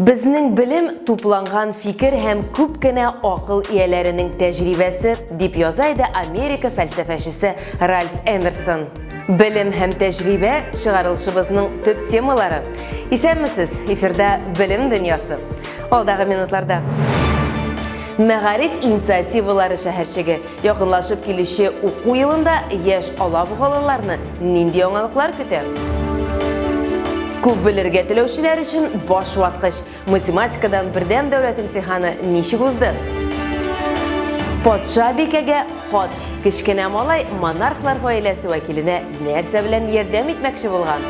Безнең белем тупланган фикер һәм күп кенә акыл ияләренең тәҗрибәсе, дип яза иде Америка фәлсәфәчесе Ральф Эмерсон. Белем һәм тәҗрибә чыгарылышыбызның төп темалары. Исәнмесез, эфирда Белем дөньясы. Алдагы минутларда Мәгариф инициативалары шәһәрчеге Якынлашып килүче уку елында яшь алабугалыларны нинди яңалыклар көтә? Күп белергә теләүчеләр өчен баш ваткыч. Математикадан бердәм дәүләт имтиханы ничек узды? Патша бикәгә хат. Кечкенә малай монархлар гаиләсе вәкиленә нәрсә белән ярдәм итмәкче булган?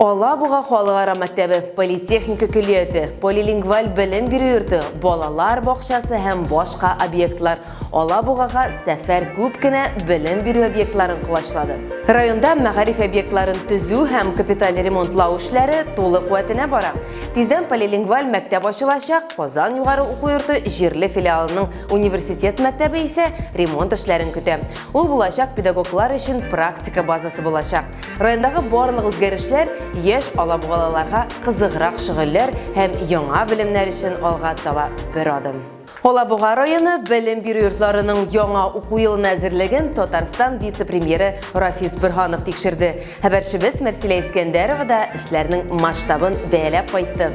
Алабуга халыкара мәктәбе, политехника көллияте, полилингваль белем бирү йорты, балалар бакчасы һәм башка объектлар Алабугага сәфәр күп кенә белем бирү объектларын колачлады. Районда мәгариф объектларын төзү һәм капиталь ремонтлау эшләре тулы куәтенә бара. Тиздән полилингваль мәктәп ачылачак, Казан югары уку йорты җирле филиалының университет мәктәбе исә ремонт эшләрен көтә. Ул булачак педагоглар өчен практика базасы булачак. Райондагы барлык үзгәрешләр яшь алабугалаларга кызыграк шөгыльләр һәм яңа белемнәр өчен алга таба бер адым. Алабуга районы белем бирү йортларының яңа уку елына әзерлеген Татарстан вице-премьеры Рафис Бөрһанов тикшерде. Хәбәрчебез Мәрсилә Искәндәрова да эшләрнең масштабын бәяләп кайтты.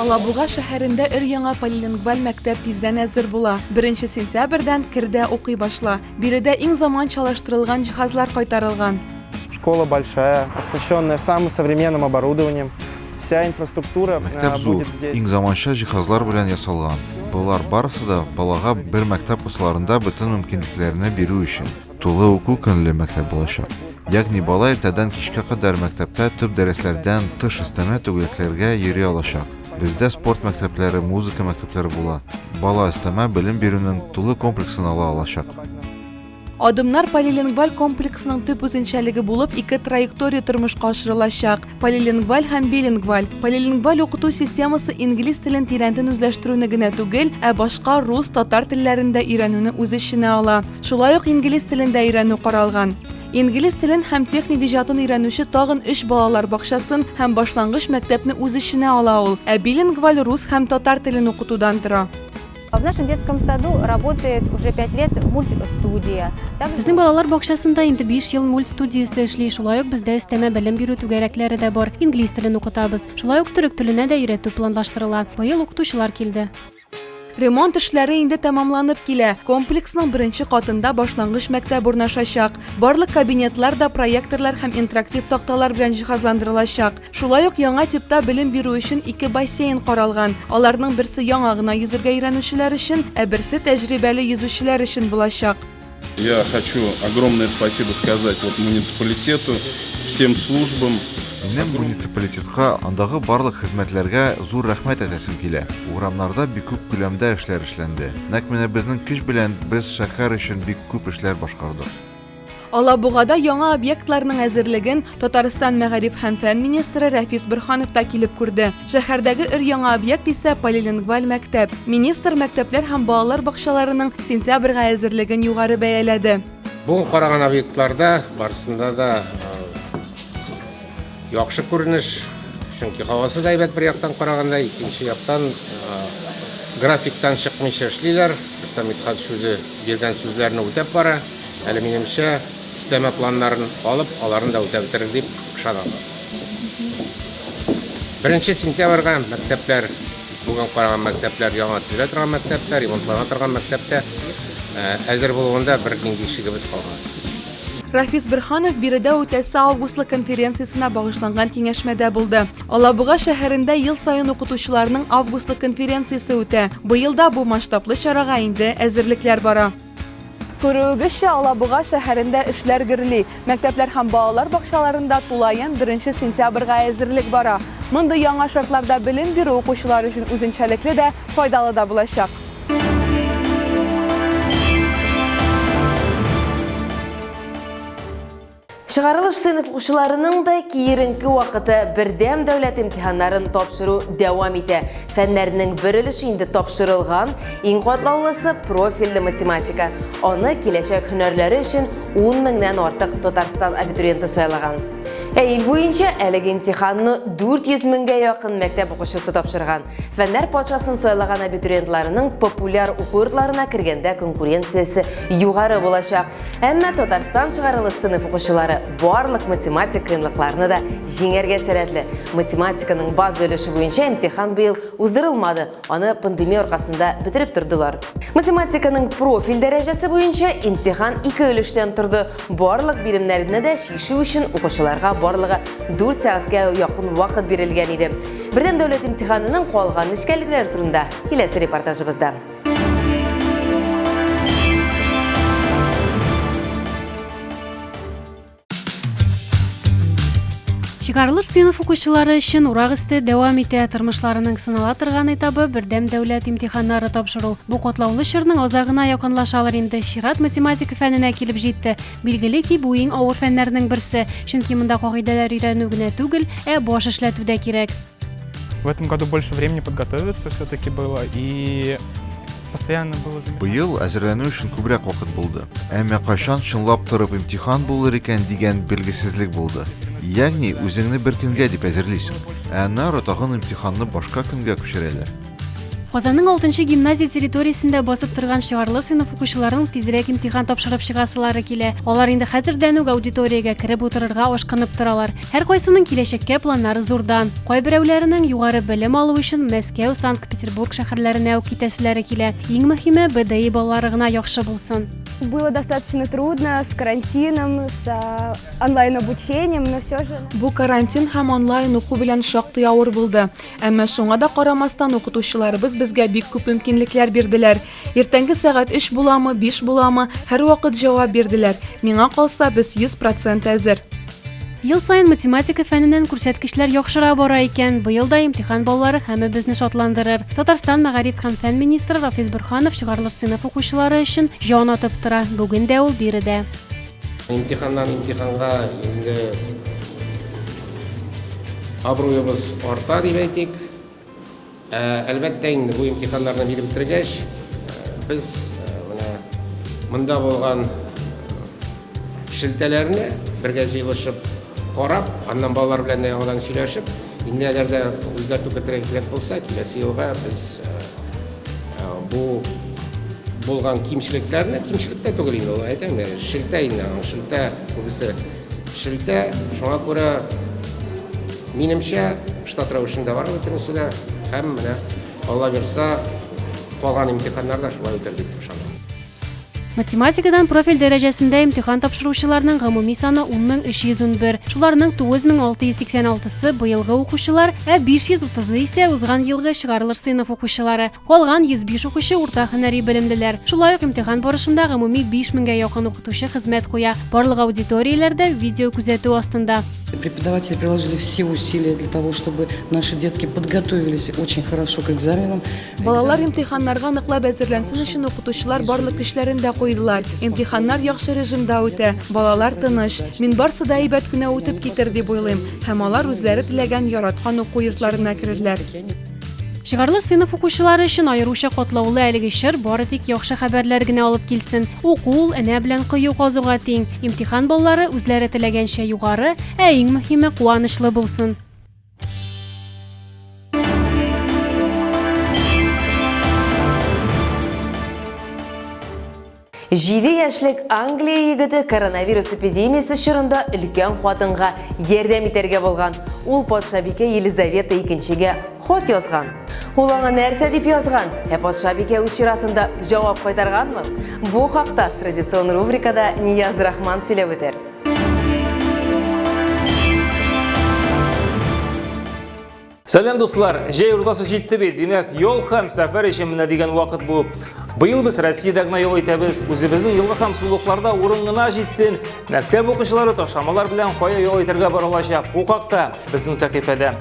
Алабуга шәһәрендә өр-яңа полилингваль мәктәп тиздән әзер була. Беренче сентябрьдән кердә укый башла. Биредә иң заманчалаштырылган җиһазлар кайтарылган. Школа большая, оснащенная самым современным оборудованием. Вся инфраструктура будет здесь. Мәктәп зур, иң заманча җиһазлар белән ясалган. Болар барысы да балага бер мәктәп кысаларында бөтен мөмкинлекләрне бирү өчен. Тулы уку көнле мәктәп булачак. Ягъни бала иртәдән кичкә кадәр мәктәптә төп дәресләрдән тыш өстәмә түгәрәкләргә йөри алачак. Бездә спорт мәктәпләре, музыка мәктәпләре була. Бала өстәмә белем бирүнең тулы комплексын ала алачак. Адымнар полилингваль комплексының төп үзенчәлеге булып ике траектория тормышка ашырылачак. Полилингваль һәм билингваль. Полилингваль укыту системасы инглиз телен тирәнтен үзләштерүне генә түгел, ә башка рус, татар телләрен дә өйрәнүне үз эченә ала. Шулай ук инглиз телен дә өйрәнү каралган. Инглиз телен һәм техник иҗатын өйрәнүче тагын өч балалар бакчасын һәм башлангыч мәктәпне үз эченә ала ул, ә билингваль рус һәм татар телен укытудан тора. В нашем детском саду работает уже пять лет мультстудия. Безнең балалар бакчасында инде 5 ел мульт студиясе эшли. Шулай ук бездә өстәмә белем бирү түгәрәкләре дә бар. Инглиз телен укытабыз. Шулай ук төрек теленә дә өйрәтү планлаштырыла. Быел укытучылар килде. Ремонт эшләре инде тәмамланып килә. Комплексның беренче катында башлангыч мәктәп урнашачак. Барлык кабинетлар да проекторлар һәм интерактив такталар белән җиһазландырылачак. Шулай ук яңа типта белем бирү өчен ике бассейн каралган. Аларның берсе яңа гына йөзергә өйрәнүчеләр өчен, ә берсе тәҗрибәле йөзүчеләр өчен булачак. Я хочу огромное спасибо сказать вот муниципалитету, всем службам. Минем муниципалитетка, андагы барлык хезмәтләргә зур рәхмәт әйтәсем килә. Урамнарда бик күп күләмдә эшләр эшләнде. Нәкъ менә безнең көч белән без шәһәр өчен бик күп эшләр башкардык. Алабугада яңа объектларның әзерлеген Татарстан мәгариф һәм фән министры Рәфис Борханов та килеп күрде. Шәһәрдәге өр-яңа объект исә полилингваль мәктәп. Министр мәктәпләр һәм балалар бакчаларының сентябрьгә әзерлеген югары бәяләде. Бүген караган объектларда барысында да яхшы күренеш, чөнки һавасы да әйбәт бер яктан караганда, икенче яктан графиктан чыкмыйча эшлиләр. Рөстәм Митхатович үзе биргән сүзләрне үтәп бара. Әле минемчә, өстәмә планнарын алып, аларын да үтәп бетерер дип ышанам. Беренче сентябрьгә мәктәпләр, бүген караган мәктәпләр, яңа төзелә торган мәктәптә, ремонтлана торган мәктәптә әзер булуында бер нинди шигебез калмады. Рафис Берханов биредә үтәсе августлы конференциясенә багышланган киңәшмәдә булды. Алабуга шәһәрендә ел саен укытучыларның августлы конференциясе үтә. Быел да бу масштаблы чарага инде әзерлекләр бара. Күрүегезчә, Алабуга шәһәрендә эшләр гөрли. Мәктәпләр һәм балалар бакчаларында тулаем беренче сентябрьгә әзерлек бара. Мондый яңа шартларда белем бирү укучылар өчен үзенчәлекле дә, файдалы да булачак. Чыгарылыш сыйныф укучыларының да киеренке вакыты бердәм дәүләт имтиханнарын тапшыру дәвам итә. Фәннәрнең бер өлеше инде тапшырылган, иң катлаулысы профильле математика. Аны киләчәк һөнәрләре өчен 10 меңнән артык Татарстан абитуриенты сайлаган. Ә ил буенча әлеге имтиханны 400 меңгә якын мәктәп укучысы тапшырган. Фәннәр патшасын сайлаган абитуриентларының популяр уку йортларына кергәндә конкуренциясе югары булачак. Әмма Татарстан чыгарылыш сыйныф укучылары барлык математик кыенлыкларны да җиңәргә сәләтле. Математиканың база өлеше буенча имтихан быел уздырылмады, аны пандемия аркасында бетереп тордылар. Математиканың профиль дәрәҗәсе буенча имтихан ике өлештән торды. Барлык биремнәрне дә чишү өчен укучыларга барлыгы 4 сәгатькә якын вакыт бирелгән иде. Бердәм дәүләт имтиханының куалган нечкәлекләре турында киләсе репортажыбызда. Чыгарылыш сыйныф укучылары өчен урак өсте дәвам итә. Тормышларының сынала торган этабы бердәм дәүләт имтиханнары тапшыру. Бу катлаулы чорның азагына якынлашалар инде. Чират математика фәненә килеп җитте. Билгеле ки, бу иң авыр фәннәрнең берсе, чөнки монда кагыйдәләр өйрәнү генә түгел, ә баш эшләтү дә кирәк. В этом году больше времени подготовиться все-таки было и постоянно было Быел әзерләнү өчен күбрәк вакыт булды. Әмма кайчан чынлап торып имтихан булыр икән дигән белгесезлек булды. Ягъни үзеңне бер көнгә дип әзерлисең, ә аннары тагын имтиханны башка көнгә күчерәләр. Казанның алтынчы гимназия территориясендә басып торган чыгарлы сыйныф укучыларының тизрәк имтихан тапшырып чыгасылары килә. Алар инде хәзердән үк аудиториягә кереп утырырга ашкынып торалар. Һәркайсының киләчәккә планнары зурдан. Кайберәүләренең югары белем алу өчен Мәскәү, Санкт-Петербург шәһәрләренә үк китәселәре килә. Иң мөһиме, БДИ балалары гына яхшы булсын. Было достаточно трудно с карантином, с а, онлайн-обучением, но все же... Бу карантин һәм онлайн уку белән шактый авыр булды. Әмма шуңа да карамастан укытучыларыбыз безгә бик күп мөмкинлекләр бирделәр. Иртәнге сәгать 3 буламы, 5 буламы, һәрвакыт җавап бирделәр. Миңа калса, без 100% әзер. Ел саен математика фәненнән күрсәткечләр яхшыра бара икән. Быел да имтихан баллары һәммәбезне шатландырыр. Татарстан мәгариф һәм фән министры Рафис Борханов чыгарылыш сыйныф укучылары өчен җан атып тора. Бүген дә ул биредә. Имтиханнан имтиханга инде Абруебыз арта дип әйтик. Ә, әлбәттә инде бу имтиханнарны биреп бетергәч, без менә монда булган шелтәләрне бергә җыелышып карап, аннан балалар белән дә яңадан сөйләшеп, инде әгәр дә үзгәртү кертергә кирәк булса, киләсе елга без бу булган кимчелекләрне, кимчелек тә түгел инде, әйтәм, шелтә инде, шелтә күбесе Шелтә, шуңа күрә, минемчә, штат рәвешендә бар бөтенесе дә. Һәм менә, алла бирса, калган имтиханнар да шулай үтәр дип ышанам. Математикадан профиль дәрәҗәсендә имтихан тапшыручыларның гомуми саны 10311. Шуларның 9686-сы быелгы укучылар, ә 530-ы исә узган елгы чыгарылыш сыйныф укучылары. Калган 105 укучы урта һөнәри белемлеләр. Шулай ук имтихан барышында гомуми 5000 гә якын укытучы хезмәт куя. Барлык аудиторияләр дә видео күзәтү астында. Преподаватели приложили все усилия для того, чтобы наши детки подготовились очень хорошо к экзаменам. Балалар имтиханнарга ныклап әзерләнсен өчен укытучылар барлык көчләрен дә куйдылар. Имтиханнар яхшы режимда үтә, балалар тыныч. Мин барсы да әйбәт кенә үтеп китер дип уйлыйм һәм алар үзләре теләгән, яраткан уку йортларына керерләр. Чыгарлы сыйныф укучылары өчен аеруча катлаулы әлеге чор бары тик яхшы хәбәрләр генә алып килсен. Уку ул энә белән кыю казуга тиң. Имтихан баллары үзләре теләгәнчә югары, ә иң мөһиме куанычлы булсын. Җиде яшьлек Англия егете коронавирус эпидемиясе чорында өлкән хатынга ярдәм итәргә булган. Ул патшабикә Елизавета икенчегә хат язган. Ул аңа нәрсә дип язган? Ә патшабикә үз чиратында җавап кайтарганмы? Бу хакта традицион рубрикада Нияз Рахман сөйләп үтәр. Сәләм дуслар, җәй уртасы җитте бит, димәк, ял һәм сәфәр өчен менә дигән вакыт бу. Быел без Россиядә генә ял итәбез, үзебезнең елга һәм сулыкларда урын гына җитсен. Мәктәп укучылары ташламалар белән кая ял итәргә бара алачак? Бу хакта безнең сәхифәдә.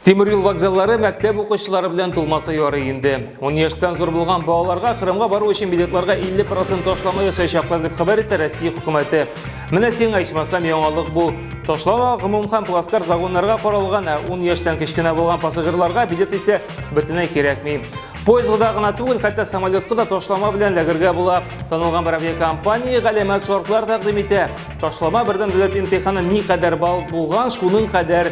Тимир юл вокзаллары мәктәп укучылары белән тулмаса ярый инде. 10 яшьтән зур булган балаларга Кырымга бару өчен билетларга 50% ташлама ясаячаклар дип хәбәр итә Россия хөкүмәте. Менә сиңа ичмасам яңалык бу. Ташлама гомум һәм плацкарт вагоннарга каралган, ә 10 яшьтән кечкенә булган пассажирларга билет исә бөтенләй кирәкми. Поездда гына түгел, хәтта самолетка да ташлама белән ләгергә була. Танылган бер авиакомпания галәмәт шартлар тәкъдим итә. Ташлама бердәм дәүләт имтиханы никадәр балл булган, шуның кадәр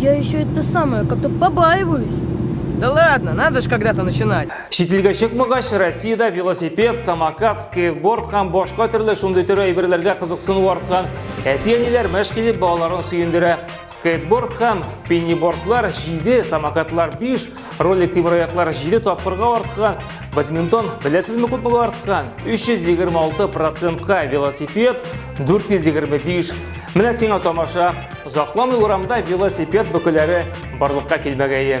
Я еще это самое, как-то побаиваюсь. Да ладно, надо же когда-то начинать. Шетелгә чыкмагач, Россиядә велосипед, самокат, скейтборд һәм башка төрле шундый төрле әйберләргә кызыксыну арткан. Әти-әниләр мәш килеп балаларын сөендерә. Скейтборд һәм пеннибордлар 7, самокатлар 5, Ролик тимраяклар 7 тапкырга арткан, бадминтон беләсезме күпме арткан? 326 процентка велосипед 425. Менә сиңа тамаша. Озакламый урамда велосипед бөкеләре барлыкка килмәгәе.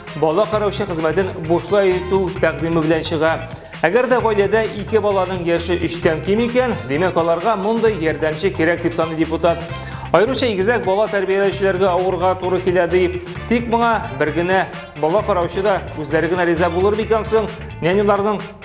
Бала караучы хезмәтен бушлай итү тәкъдиме белән чыга. Әгәр дә гаиләдә ике баланың яше өчтән ким икән, димәк аларга мондый ярдәмче кирәк дип саный депутат. Аеруча игезәк бала тәрбияләүчеләргә авырга туры килә ди. Тик моңа бер генә бала караучы да үзләре генә риза булыр микән соң? Няняларның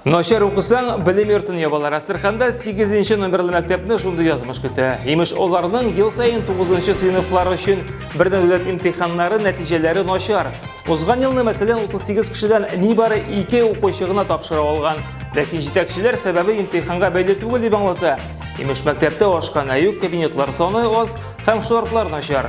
Начар укысаң, белем йортын ябалар. Әстерханда 8 номерлы мәктәпне шундый язмыш көтә. Имеш, оларның ел сайын 9 сыйныфлар өчен бердән дәүләт имтиханнары нәтиҗәләре начар. Узган елны, мәсәлән, 38 кешедән нибары 2 укучы гына тапшыра алган. Ләкин җитәкчеләр сәбәбе имтиханга бәйле түгел дип аңлата. Имеш, мәктәптә ашкана юк, кабинетлар саны аз һәм шартлар начар.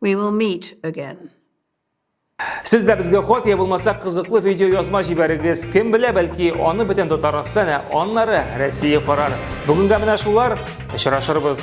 We will meet again. Сез дә безгә хат я булмаса кызыклы видео язма җибәрегез. Кем белә, бәлки аны бөтен Татарстан, ә аннары Россия карар. Бүгенгә менә шулар. Очрашырбыз.